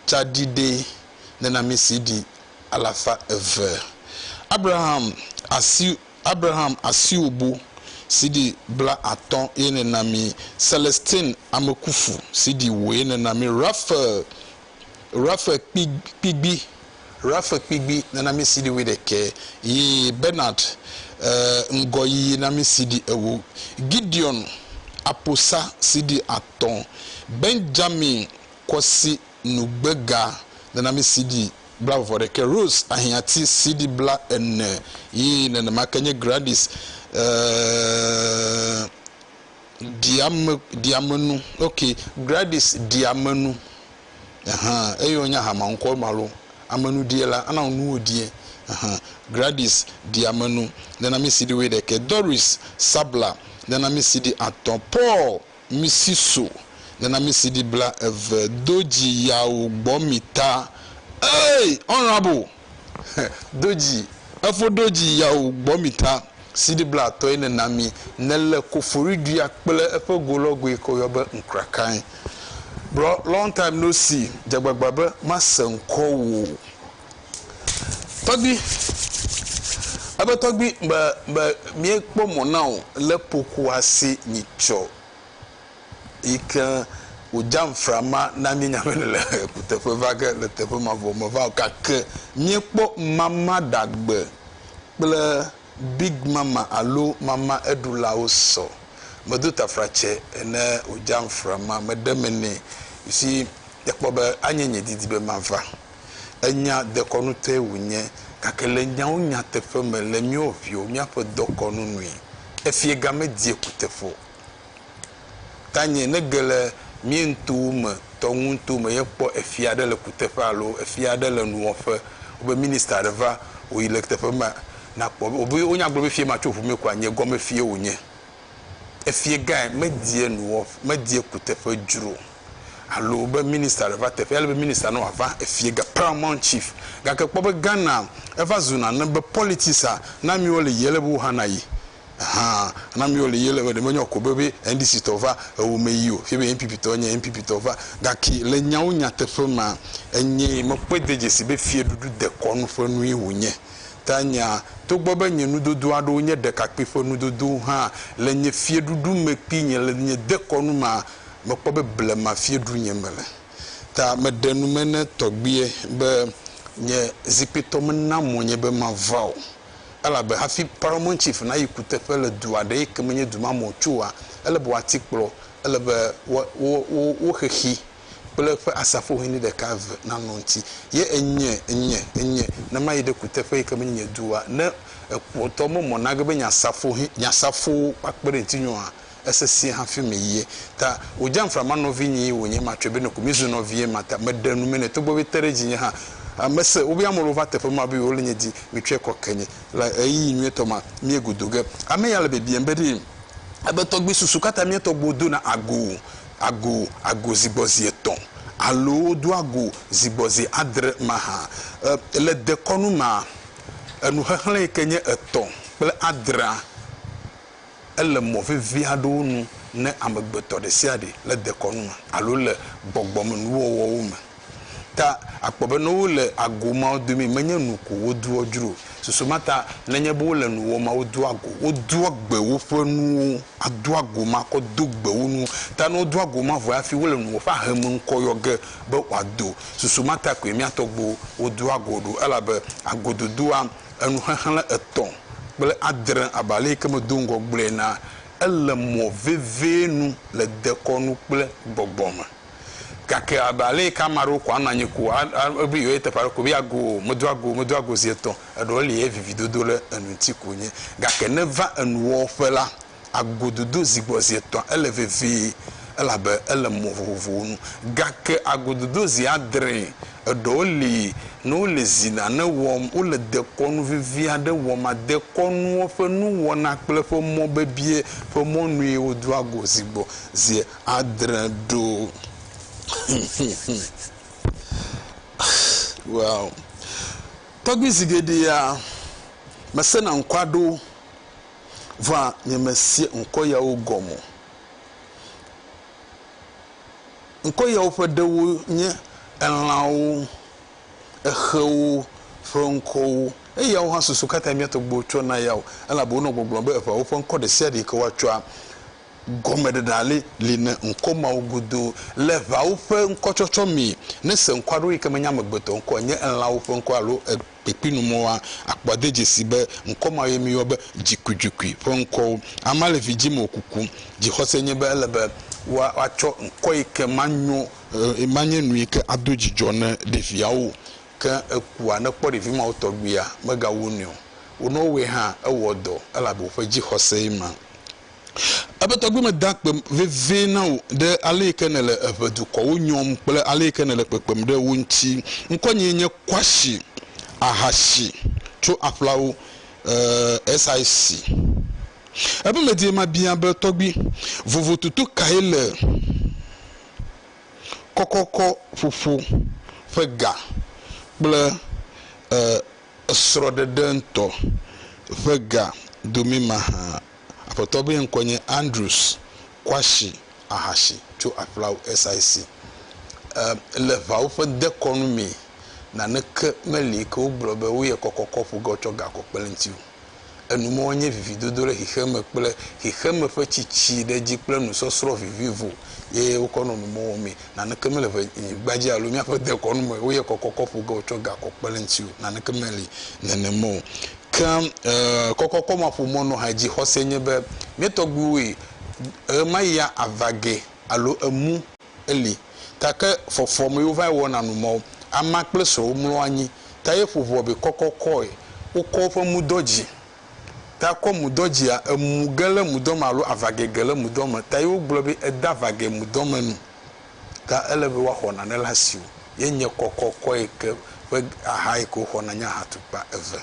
tsaɖiɖɛ nena mi sidi alafa eve abraham asi Abraham Asiwubu CD bla atɔ̃ ye nèna mí, Celestin Amekufu CD wò ye nèna mí, Raphael Raphael Kpi Kpigbi Raphael Kpigbi nèna mí CD wuiɖekɛ ye Bernard eh, Ŋgɔyiyi na mí CD ewo, Gideon Aposa CD atɔ̃, Benjamin Kwasi nugbega nana mí CD blaeve ɖe ke. Rose Ahiãti, CD blaene ye nenema ke nye Gradis ɖiame, ɖiamenu, ok, Gradis ɖiamenu, ɛhɛ̃, eye wònye ahameŋkɔ ma lo, amenuɖie la, ana wò nuwo ɖie, ɛhɛ̃, Gradis ɖiamenu nana mí CD wuiɖekɛ. Doris Sabla nana mí CD atɔ̃. Paul Misi so nana misi ɖi bla eve do dzi yawo gbɔ mi ta ey honorable he do dzi efo do dzi yawo gbɔ mi ta siɖi bla tɔ yi nana mi ne le kofori ɖuia kple eƒe go lɔ goe ke woyɔ be nkrakae bro long time no see dzagbagba be ma se ŋkɔ wo Tɔgbui, ebe tɔgbui be be míekpɔ mɔ na wò le ƒoxoa si nyi tsɔ yi ke wòdza nfra ma na mí nya be nèle kuteƒe va ge le teƒe mavɔ me va o gake míekpɔ mama ɖagbe kple big mama alo mama eɖulawo sɔ. Medo tafratsɛ ne wòdza nfra ma meɖe me nɛ. You see, ekpɔ be anye nye didi be mava. Enya dekɔnutɔe wònye, gake le nyawo nyateƒe me le míawo viwo, míaƒe dɔkɔnu nui. Efie ga medie kuteƒe o. Tanye ne ge le míeŋtuwo me tɔ ŋuŋuto me ye kpɔ efia aɖe le kuteƒe alo efia aɖe le nuwɔƒe, wobe minista aɖe va wòyi le teƒe ma, nakpɔ be wòbe wonya gblɔ be fie ma tso ŋu mee kɔa, nye gɔme fie wònye. Efie gae medie nuwɔƒ, medie kuteƒe dzro o. alo be minister ɖe va teƒea, ele be minister ne wòava efie ga, paramount chief. Gake kpɔ be Ghana eva zu nane be politics-a, ne amewo le yiyim ele be wo hã nayi. Hã, ne amewo le yiyim ele be ɖe menye eko be be NDC tɔ va ewo me yi o, fie be NPP tɔ enye NPP tɔ va. Gake le nyawo nyateƒe mea, enye mekpɔe de dzesi be fiɖuɖu dekɔnu ƒe nue wònye. Ta nya, togbɔ be nye nudodo aɖewo nye ɖekakpui ƒe nudodowo hã, le nye fiɖuɖu me kpui nye le nye dekɔnu mea, mekpɔ be blema fiedunye mele, ta meɖe nu me ne tɔgbuiɛ be, Nye zikpuitɔ mena mo nye be mava o, elabe hafi Paramount Chief nayi kuteƒe le du aɖe yi ke menye du ma me o tsoa, ele be woati kplɔ, ele be wo, wo, wo, wo xexi kple eƒe asafohɛni ɖeka eve nanɔ ŋuti. Ye enye, enye, enye, ne mayi ɖe kuteƒe yi ke menye nye du oa, ne ekpɔtɔ memɔ nage be nye asafohɛ, nye asafowo woakpe ɖe ŋutinye oa, Esesẽ hafi me yie ta wodze anfra ma nɔvi nyii wonye ma tsɔe be nɔku mi zu nɔvie ma ta me ɖe nu me nɛ togbɔ be te ɖe dzinye hã a me se wobe ame lewo va teƒe ma be yewo le nye di mi tsɔe kɔ ke nye le ɣeyiɣi nyuietɔ ma mie godo ge ame ya le bibiam be ɖee ebe tɔgbi susu kata mie tɔgbi wo dona ago ago ago zi gbɔ zi etɔ alo wo do ago zi gbɔ zi adre ma ha e le dekɔnu ma enu xexlẽ yike nye etɔ kple adrea. Ele mɔ vevi aɖewo nu ne amegbetɔ ɖesiaɖe le dekɔnu me alo le gbɔgbɔmenuwɔwɔwo me. Ta akpɔ be ne wole ago mawo domee menye nu ko wodoa dzro o. Susu ma ta, nenye be wole nu wɔm awu doa go, wodoa gbe woƒe nuwo ado ago ma kɔ do gbe wo nuwo. Ta ne wodo ago ma vɔe hafi wole nuwɔƒe ahe me ŋkɔ yɔ ge be wòado. Susu ma ta koe mía tɔgbuiwo wodoa go ɖo elabe agododoa Enu xexlẽ etɔ̃ kple adre abe aleyike medo ŋgɔ gblɔe enea, ele mɔ vevie nu le dekɔnu kple gbɔgbɔ me. Gake abe aleyike ame aɖewo ko anɔ anyi ko be yewoyi teƒe aɖe ko be yeago o, medo ago o, medo ago zi etɔ̃, eɖewo li ye vividodo ɖe enu ŋuti ko wonye. Gake ne va enuwɔwɔƒe la, agododo zi gbɔ zi etɔ̃ ele vevie elabe ele mɔ vovovowo nu. Gake agododo zi adre eɖewo li ne wole zi nane wɔm, wole dekɔnu vevi aɖe wɔm. Dekɔnuwo ƒe nuwɔna kple ƒe mɔ bebie ƒe mɔnue wodoa go zi gbɔ zi adre ɖo. Well, tɔgbi zi geɖea, mesena ŋkɔ aɖewo vɔa nyemesea ŋkɔ yawo gɔme o. Ŋkɔ yawo ƒe ɖewo nye elãwo, exewo ƒe ŋkɔwo. Eyawo hã susu katã mía tɔgbuiwo tsɔ na ya o, elabe wonɔ gbɔgblɔm be eʋawo ƒe ŋkɔ ɖe sia ɖe yi ke woatsɔa, gɔmeɖeɖe aɖe li ne ŋkɔ mawo godo. Le eʋawo ƒe ŋkɔtsɔtsɔ mee, nèse ŋkɔ aɖewo yi ke menye amegbetɔ ŋkɔ o, enye elãwo ƒe ŋkɔ alo e. kpekpenu mɔa, akpɔ ade dzesi be ŋkɔ ma ye míyɔ be dzikuidzukui ƒe ŋkɔwo. Amea le vi dzim wòkuku. Dzixɔse nye be ele be woatsɔ ŋkɔ yi ke manyo, manye nu yi ke ado dzidzɔ ne ɖeviawo. Ke ekua, ne ekpɔ ɖevi mawo tɔgbuia, megawu nui o. Wo ne wowɔe hã, ewɔ dɔ elabe woƒe dzixɔsee ma. Eƒe tɔgbui meda akpe vevie na wò ɖe ale yi ke nèle eƒe dukɔwo nyɔm kple ale yi ke nèle kpekpem ɖe wo ŋuti. Ŋkɔnyee nye Kwashi Ahashi tso Aƒlawo, eh, SIC. Eƒe medie mabia be, Tɔgbui, vovototo kae le kɔkɔkɔ ƒoƒo ƒe ga kple, eh, esrɔ̃ɖeɖe ŋutɔ ƒe ga dome mahã? Aƒetɔ be ŋkɔe nye Andrews Kwashi Ahashi tso Aflaw SIC. E, le ŋawo ƒe dekɔnu mee, naneke meli yi ke wogblɔ be woyɛ kɔkɔkɔ ƒu ge wotsɔ gakɔ kpe ɖe ŋuti o. Enu mawo nye vividodo ɖe xexeme kple xexeme ƒe tsitsi ɖe edzi kple nusɔsrɔ̃ vivivo ye wokɔ nɔ nu mawo mee. Naneke mele ŋe, nyigba dzi alo míaƒe dekɔnu me woyɛ kɔkɔkɔ ƒu ge wotsɔ gakɔ kpe ɖe ŋuti o. Naneke meli nenema o. Ke kɔkɔkɔ ma ƒo mɔ nɔ hadzixɔse nye be mía tɔgbuiwoe ɣemaɣi ya ava ge alo emu eli. Ta ke fɔfɔ me yewo vae wɔna nu mɔ amea kple srɔ̃wo mlɔ anyi ta ye ƒo ʋua be kɔkɔkɔe wokɔ woƒe mudɔ dzi. Ta kɔ mudɔ dzia emu ge le mudɔ me alo ava ge ge le mudɔ me ta ye wogblɔ be eda va ge mudɔ me nu. Gã ele be woaxɔ nane le asiwò. Ye nye kɔ kɔkɔe ke ƒe axa yi ke woxɔna nye ahatukpa eve.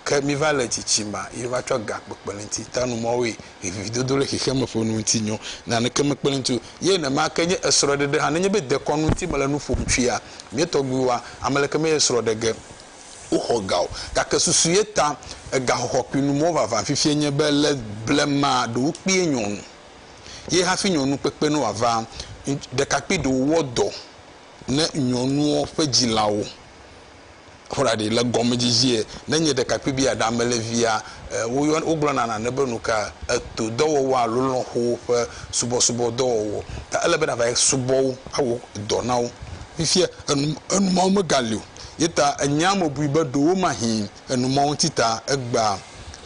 Ke miva le tsitsima ye va tsɔ gã kpekpe le ŋuti ta nu mɔwoe vividodo le xexeme ƒe nu ŋuti nyɔ. Naneke mekpe le ŋuti o. Ye nenema ke nye esrɔɖeɖe hã. Nenye be dekɔnu ŋuti mele nu ƒom tsoea, mía tɔgbuiwoa, ameleke me ye srɔ ɖe ge woxɔ gã o. Gake susu ye ta egã xɔxɔ kpli nu mɔwo vavã fifia nye be le blema ɖewo kpee nyɔ nu. ye hafi nyɔnu kpekpe ne wòava. Ɖekakpui ɖewo wɔ dɔ ne nyɔnuɔ ƒe dzilawo. Ƒoɖa ɖi le gɔmedzidzie, ne nye ɖekakpui be yeaɖe ame le via, woyɔ, wogblɔna nane be nuka? Eto dɔwɔwɔ alo lɔ̃xowo ƒe subɔsubɔ dɔwɔwɔ. Ta ele be nàva subɔ wo, awɔ dɔ na wo. Fifia enu, enu mawo megali o. Ye ta enyea mebui be ɖewomahĩ Enumɔ ŋuti ta, egbea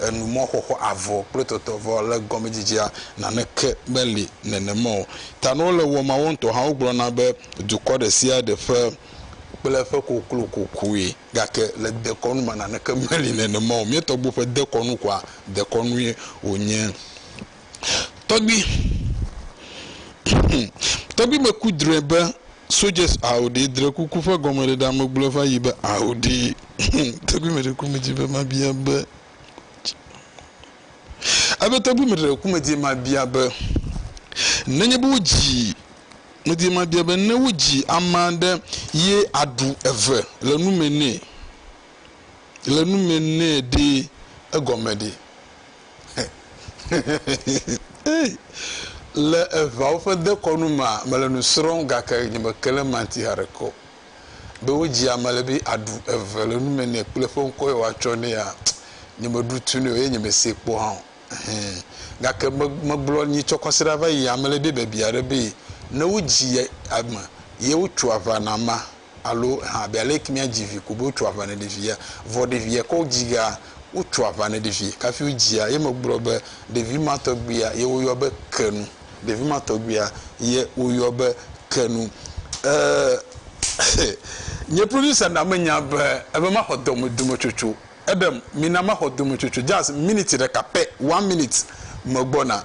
enumɔ xɔxɔ avɔ kple tɔtɔ vɔ le gɔmedzedzea naneke meli nenema o. Tanuwo le wɔ mawo ŋutɔ hã wogblɔna be dukɔ ɖe sia ɖe ƒe kple eƒe koklo kokui gake le dekɔnu me naneke meli nenema o. Mía tɔgbuiwo ƒe dekɔnu koa dekɔnue wonye. Tɔgbui, Hum! Tɔgbui me ku drɔe be Soldiers aoɖee dre kuku ƒe gɔmeɖeɖea me gblɔe va yi be aoɖee. Hum! Tɔgbui me ɖe ku me dzi be mabia be. Ebe tɔgbui me ɖe ku me dzi mabia be nenye be wodzi me dzi mabia be ne wodzi ama ɖe ye aɖu eve le nu me nɛ le nu me nɛ ɖee egɔme ɖe. Le eŋawo ƒe dekɔnu mea, mele nu srɔ̃m gake nye me ke le manti haɖeke o. Be wodzi ame le be aɖu eve le nu me nɛ kple eƒe ŋkɔ ye woatsɔ nɛa, nye me ɖu tu nɛ o eye nye me see kpɔ hã o. Ɛhɛ. Gake me, megblɔ nyi tsɔ kɔsiɖa va yi ame le be bebia ɖe be ne wodzi ame ye wotso aʋa na ma. alo eha abe ale ke míadzi vi ko be wotsɔ aʋa ne ɖevia. Vɔ ɖevia ke wodzia, wotsɔ aʋa ne ɖevia kafi wodzia. Ye megblɔ be, Ɖevi ma tɔgbuia ye woyɔ be ke nu. Ɖevi ma tɔgbuia ye woyɔ be ke nu. E, xe, nye producer na menya be ebe maxɔ dɔme dometsotso. Eɖem, mina maxɔ dometsotso just minute ɖeka pɛ, one minute, megbɔna.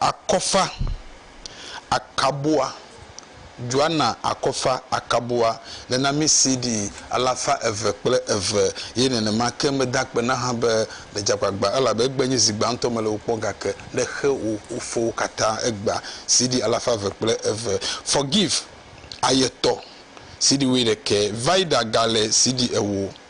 Akɔfa akabua, Joana akɔfa akabua, nenami CD alafa eve kple eve, eye nenema ke meda akpe na hã be, Medze agbagba, elabe egbea nye zi gbãtɔ mele wò kpɔ, gake ne xe wò fofowo katã egbea. CD alafa eve kple eve. Forgive, Ayetɔ, CD wuiɖekɛ. Vida gale CD ewo.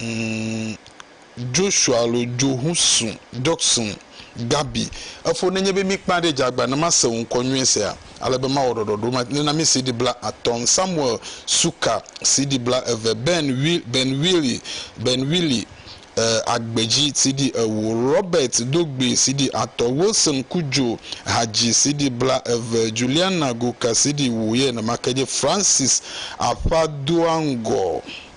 Umm Joshua alo Johuson, Jokson, Gabi, efo nenye be mi kpã ɖe djagba ne ma se wò ŋkɔ nyuie sea, ale be ma wɔ ɖɔɖɔɖo ma ne na mi CD bla atɔ ŋ Samuel Suka, CD bla eve Ben Will, Ben Willy, Ben Willy, eh, Agbedji, CD ewo Robert Dogbe, CD atɔ Wilson Kudjo, Hadji, CD bla eve Juliana Goka, CD wo ye ne ma ke dje Francis Afa doa ŋgɔ.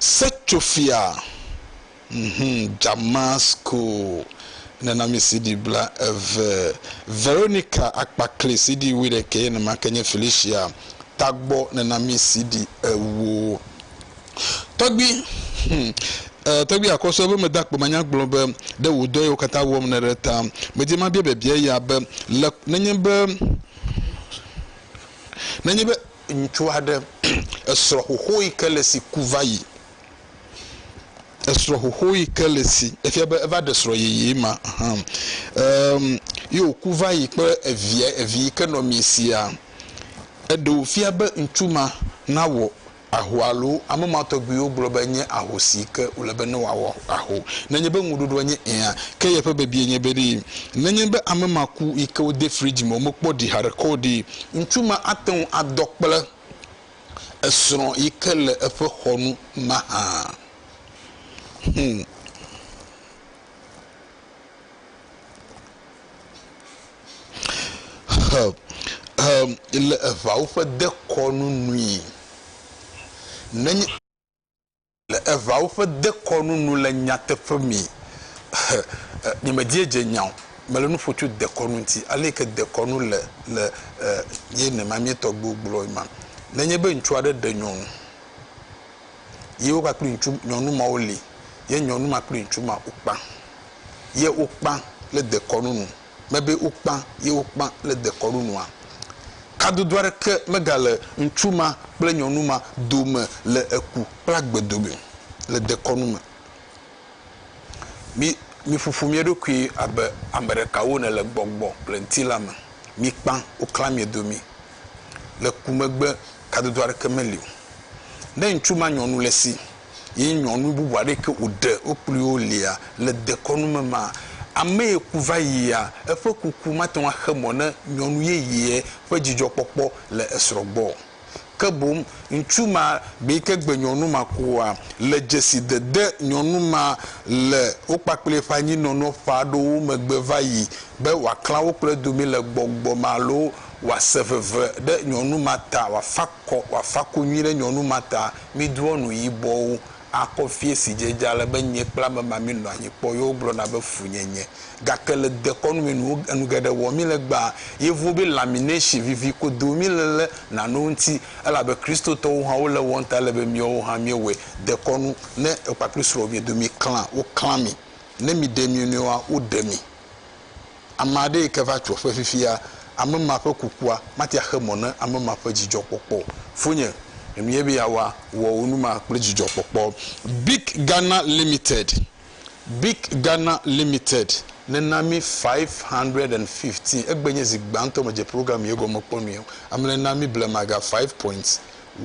Setsoƒea, ŋhum, Damasko, nena mi CD bla eve, Veronica Akpakli CD wui ɖekɛ, nenema ke nye Felicia Tagbɔ nena mi CD ewo. Tɔgbi, ŋhum, e, Tɔgbi Akɔsɔ be meda kpo manya gblɔ be ɖe wò dɔ yi wo katã wɔm ne ɖe ta medi mabia biabia ya be le, nenye be, nenye be ŋutsu aɖe esrɔ̃ xoxo yi ke le esi ku va yi. Esrɔ̃ xoxo yi ke le esi efia be eva ɖe srɔ̃ yeye ma hã em ye woku va yi kple evia evi yi ke nɔ mia sia. Eɖe wofia be ŋutsu ma nawɔ aho alo ame ma tɔgbuiwo gblɔ be enye aho si yi ke wòle be ne wòawɔ aho. Nenye be ŋuɖoɖoa nye ɛ̃a, ke yeƒe biabia nye be ɖee, nenye be ame ma ku yi ke wode frigi me womekpɔ ɖi haɖe kɔ o ɖee, Ŋutsu ma ate ŋu adɔ kple esrɔ̃ yi ke le eƒe xɔ nu mahã. Hum. He, he, le eŋawo ƒe dekɔnu nui. Nenye. Le eŋawo ƒe dekɔnu nu le nyateƒe me, nyemediedze nya o, mele nu ƒo tso dekɔnu ŋuti, ale yi ke dekɔnu le le ye ne ma mía tɔgbuiwo gblɔe ma. Nenye be ŋutsu aɖe ɖe nyɔnu, ye wova kple ŋutsu nyɔnu ma woli, ye nyɔnu ma kple ŋutsu ma wokpã, ye wokpã le dekɔnu nu. mebe wokpã ye wokpã le dekɔnu nua? Kadodo aɖeke megale ŋutsu ma kple nyɔnu ma dome le eku kple agbe dome le dekɔnu me. Mi, miƒoƒo mia ɖokui abe ame ɖeka wone le gbɔgbɔ kple ŋutilã me. Mikpã, woklã mia domi. Le ku megbe kadodo aɖeke meli o. Ne ŋutsu ma nyɔnu le si. Ye nyɔnu bubu aɖe ke wòɖe wo kpli wo lia le dekɔnu me ma, ame ye ku va yia, eƒe kuku mate ŋu axe mɔ ne nyɔnu yeyea ƒe dzidzɔkpɔkpɔ le esrɔ̃ gbɔ o. Ke boŋ, ŋutsu ma gbe yi ke gbe nyɔnu ma kua, le dzesidede nyɔnu ma le wo kpakple eƒe anyinɔnɔ ƒe aɖewo megbe va yi be wòaklã wo kple domi le gbɔgbɔ me alo wòase veve ɖe nyɔnu ma ta, wòafa akɔ, wòafa konyi ɖe nyɔnu ma ta. mídrɔ̃ nu yibɔwo akɔ fiẽ si dze edze ale be nye kple ame ma míenɔa anyi kpɔ ye wogblɔna be funyenye. Gake le dekɔnu me nuwo enu geɖe wɔm míle egbea, Yevuwo be lamination vivi kodo míle le nanewo ŋuti, elabe Kristotɔwo hã wole ewɔm ta ele be míawo hã míewɔe. Dekɔnu, Ne ekpakple srɔ̃wò miedo miklã, woklã mi. Ne miɖe mionɔewoa, woɖe mi. Ame aɖe yi ke va tso eƒe fifia, ame ma ƒe kukua mate ŋu axe mɔ ne ame ma ƒe dzidzɔkpɔkpɔ o. Fonye, enu ye be yeawa, wɔ wò nu ma kple dzidzɔkpɔkpɔ. Bic Ghana Limited, Bic Ghana Limited nena mí five hundred and fifteen, egbe nye zi gbãtɔ medze program ye gɔme kpɔ nui o. Ame le na mí blema ga five point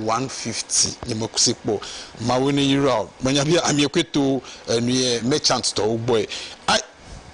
one fifty, nyemese kpɔ o. Mawue ne yra o. Menya be amie koe to enuye merchant tɔwo gbɔe.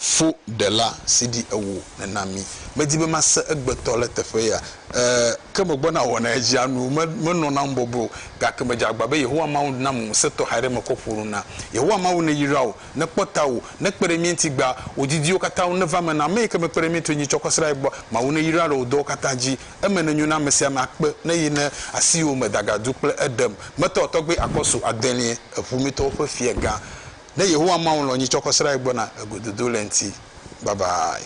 fo ɖela si ɖi ewo nena mi. Medi be mase egbetɔ le teƒe ya. E, ke megbɔna wɔna edzia nu. Me, menɔ nam bɔbɔe o, gake medze agba be Yehowa Mawu nam ŋusẽ tɔxɛ aɖe mekɔ ƒo nu na. Yehowa Mawu neyra wò, nekpɔ tawò, nekpe ɖe mía ŋuti gbea, wò didiwo katã ŋu neva eme na ame yi ke mekpe ɖe mía ŋuti o nyi tsɔ kɔ srã ye gbɔ. Mawu neyra le wò dɔwo katã dzi. Eme nenyo na ame sia ame akpe ne yi ne asiwò me dagadu kple eɖem. Metɔ tɔgbe akɔsu adelie, eƒometɔwo ƒe fiagã ne Yehowa Mawu lɔ̃ nyi tsɔ kɔ srae gbɔna le gododo le ŋti. Babayi.